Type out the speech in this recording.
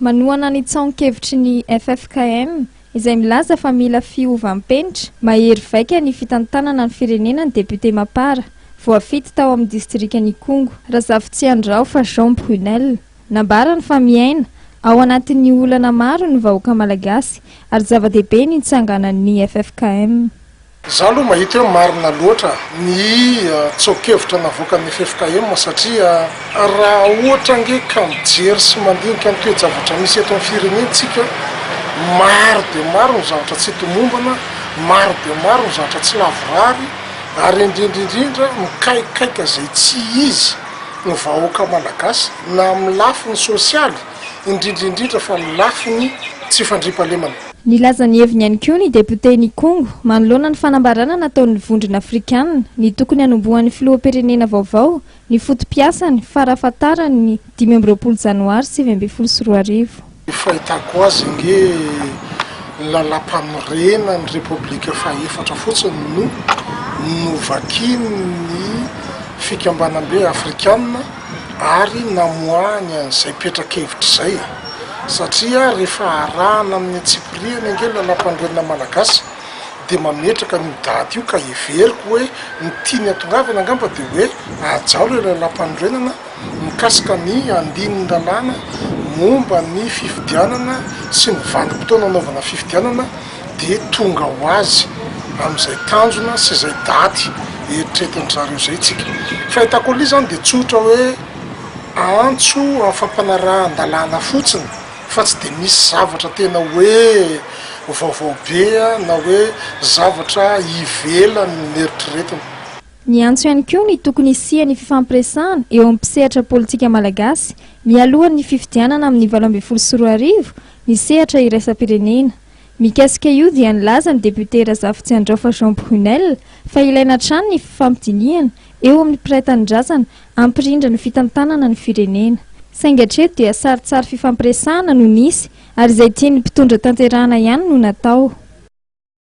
Manohana ny tsaon-kevitry ny ffkm, izay milaza fa mila fiovam-penitra mahery vaika ny fitantanana ny firenena ny depiote Mapar, voafidy tao amin'ny distrikan'Ikongo, Razafitsiandraofa Jean Brunel. Nambarany fa miaina ao anatin'ny olana maro ny vahoaka malagasy ary zava-dehibe ny nitsanganan'ny ffkm. Za aloha mahita hoe marina loatra ny tsoa-kevitra navoakan'ny ffkm satria raha ohatra ange ka mijery sy mandinika ny toe-javatra misy eto amin'ny firenentsika, maro dia maro ny zavatra tsy tomombana, maro dia maro ny zavatra tsy lavorary ary indrindra indrindra mikaikaika izay tsy izy ny vahoaka malagasy na amin'ny lafiny sosialy indrindra indrindra fa ny lafiny tsy fandriampahalemana. Nilaza ny heviny ihany koa ny depiote Nikongo, manoloana ny fanambarana nataon'ny Vondrona Afrikanina, ny tokony hanombohan'ny filoham-pirenena vaovao ny foto-piasany farafahatarany ny dimy amby roapolo janoary sivy ambin'ny folo sy roa arivo. Ny fahitako azy ange ny lalampamorenan'ny repoblika fahefatra fotsiny no novakian'ny fikambanambe afrikanina ary namoahany an'izay petra-kevitra izay e! satria rehefa arahana amin'ny antsipirihany ange ny Lalàmpanorenana Malagasy dia mametraka an'io daty io ka heveriko hoe ny tiany hatongavana angamba dia hoe hajao ilay Lalàmpanorenana mikasika ny andinin'ny lalàna momba ny fifidianana sy ny vanimpotoana hanaovana fifidianana dia tonga ho azy amin'izay tanjona sy izay daty eritretin-dry zareo izay isika. Fahitako an'ilay izy izany dia tsotra hoe antso amin'ny fampanarahan-dalàna fotsiny fa tsy dia misy zavatra tena hoe vaovao be na hoe zavatra ivelan'ny eritreretina. Niantso ihany koa ny tokony hisian'ny fifampiresahana eo amin'ny mpisehatra politika malagasy mialohan'ny fifidianana amin'ny valo ambin'ny folo sy roa arivo ny sehatra iraisam-pirenena. Mikasika io dia nilaza ny depiote Razafitsiandraofa Jean Brunel fa ilaina hatrany ny fifampidinihana eo amin'ny mpiray tanindrazana hampirindra ny fitantanana ny firenena. Saingy hatreto dia saritsary fifampiresahana no nisy ary izay tian'ny mpitondra tanterahana ihany no natao.